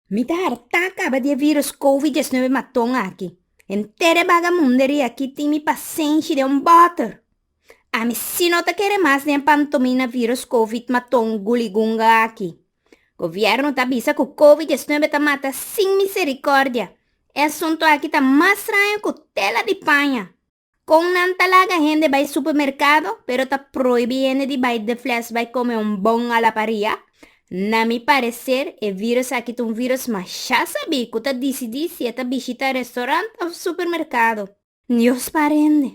Mi ta hartá kaba di e vírùs kowi diesnuebe maton aki. Henter e bagamunderia aki tin mi pasenshi den un bòter. Ami sí no ta kere mas den e pantomina vírùs kowi maton guligunga aki. Gobièrnu ta bisa ku kowi diesnuebe ta mata sin miserikòrdia. E asuntu aki ta mas straño ku tela di paña. Con nan ta laga hende bay supermercado pero ta proibi hende di bay de fles bay come un bon a la paria? Na mi parecer e virus aki ta un virus masha sabi cu ta dicidi si e ta bishita restaurant of supermercado. Dios para hende.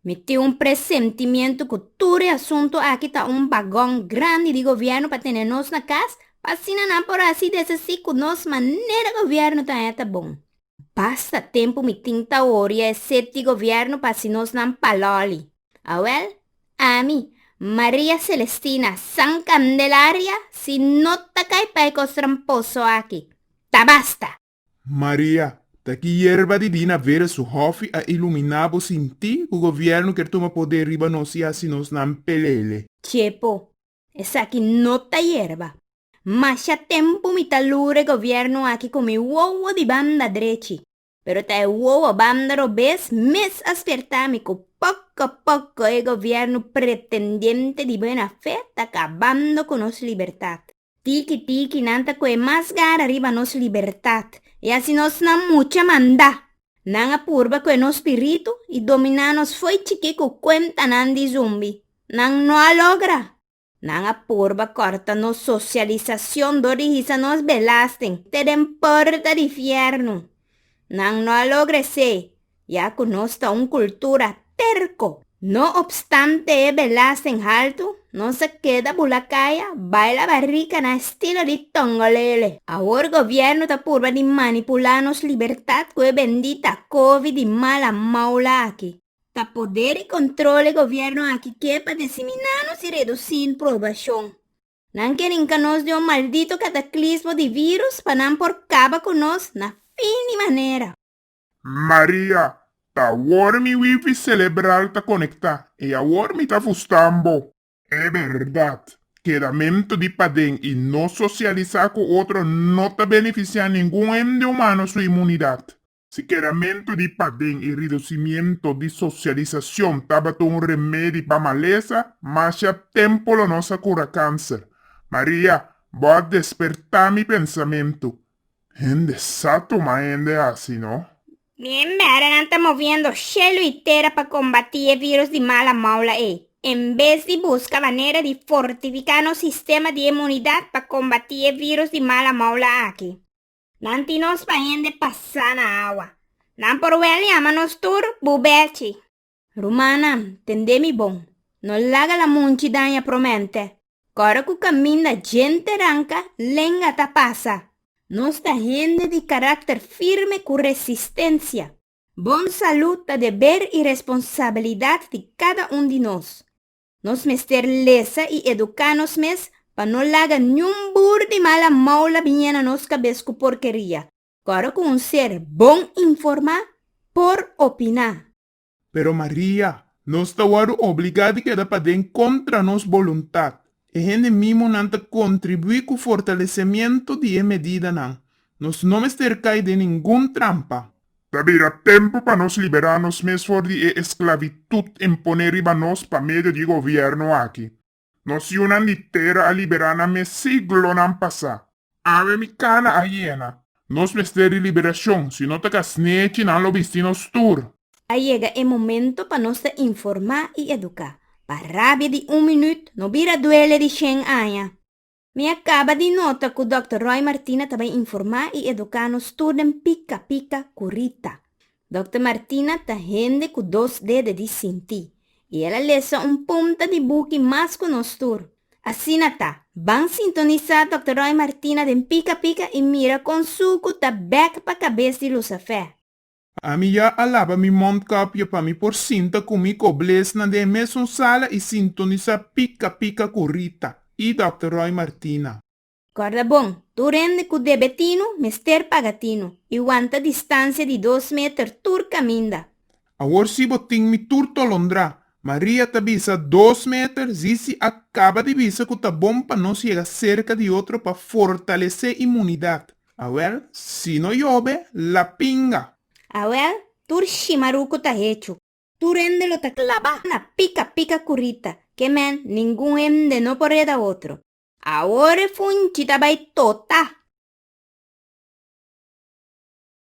Mi tin un presentimiento cu tur e asunto aki ta un bagon grandi di gobierno pa tene nos na cas pa asina nan por haci deshaci cu nos manera gobierno ta heta bon. Basta tempu mi tin ta oria e sep di gobièrnu pa hasi nosnan palòli. Awèl, ami, Maria Celestina San Candelaria, si no ta kai pa e kos tramposo aki, ta basta! Maria, Ta ki yerba dibina vera su hòfi a iluminá bo sinti ku gobièrnu kier tuma poder riba nos i hasi nosnan pelele. Chepo, Esaki no ta yerba. Masha tempu mi ta lura e gobierno aki cu mi wowo di banda drechi, pero ta e wowo banda robes mes a spierta mi cu poco poco e gobierno pretendiente di buena fe ta cabando cu nos libertad. Tiki tiki nan ta coe mas gara riba nos libertad y asi nos na mucha manda. Nan a purba cu e nos spiritu y domina nos fo'i chiki cu cuentanan di zumbi. Nan no a logra. Nan a purba corta nos socialisacion dor di hisa nos belasting te den porta di fiernu. Nan no a logra esey, ya cu nos ta un cultura Terco. No opstante e belasen haltu, nos a keda bula kaya, baila barrica na estilo di Tongolele. Awor gobierno ta purba di manipula nos libertad cu e bendita covid di mala maula aki. Ta poder y control e gobierno aki ke pa disimina nos y reduci in probacion. Nan ke rinca nos di un maldito cataclismo di virus pa nan por caba cu nos na fin di manera. Maria, Ta awor mi wifi celebral ta conecta, e awor mi ta fustan bo. E berdad, kedamento di paden y no socialisa cu otro no ta beneficia ningun hende humano su inmunidad. Si kedamento di paden y reducimiento di socialisacion tabata un remedi pa malesa, masha tempo lo nos a cura cancer. Maria, bo a desperta mi pensamento. Hende sa toma hende asi no. Mi e mberenan ta moviendo shelu y tera pa combati e virus di mala moula ey, en bes di busca manera di fortifica nos sistema di emunidad pa combati e virus di mala moula aki. Nan tin nos pa hende pasa na awa. Nan por wel yama nos tur bubechi. Rumannan, tendé mi bon. No laga lamunchi daña promente. Kòrda ku kaminda djente ranka, lenga ta pasa. Nos ta hende di karakter firme ku resistensia. Bon salú ta deber i responsabilidat di kada un di nos. Nos mester lesa i eduká nos mes pa no laga niun bur di mala moula biña na nos kabes ku porkeria. Ora cu un ser bon informa, por opina. Pero Maria, nos ta wòrdu obligá di keda paden kontra nos boluntad. E hende mimonan ta kontribuí ku fortalesemiento di e medidanan. Nos no mester kai den ningun trampa. Ta bira tempu pa nos liberá nos mes for di e esklavitud imponé riba nos pa medio di e gobièrnu aki. Nacionnan di tera a liberá na mes siglonan pasá. Awe mi cana a yena. Nos mester di liberacion, si no ta casnechi nan lo bisti nos tur. A yega e momento pa nos ta informá i educá, pa rabia di un minüt no bira duele di shen aña. Mi a kaba di nota ku Dòkter Roy Martina ta bai informá i eduká nos tur den pika pika ku Rita. Dòkter Martina ta hende ku dos dede di sintí i el a lesa un punta di buki mas ku nos tur. Asina ta, ban sintonisá Dòkter Roy Martina den pika pika i mira kon su ku ta bèk pa kabes di Lusafè. Ami ya a laba mi mondkapje pa mi por sinta ku mi koblesnan den e mesun sala i sintonisá pika pika ku Rita i Dòkter Roy Martina. Kòrda bon, tur hende ku debe tinu, mester paga tinu, i wanta distansia di dos meter tur kaminda. Awor si bo tin mi tur tolondrá. Maria ta bisa, Dos meter? Zizi a kaba di bisa ku ta bon pa nos yega serka di otro pa fortalesé imunidat. Awèl, Si no yobe, la pinga. Awèl, Tur shimaruku ta hechu. Tur hende lo ta klabá na pika pika ku Rita. Ke mèn, ningun hende no por reda otro. Awor e funchi ta bai totá.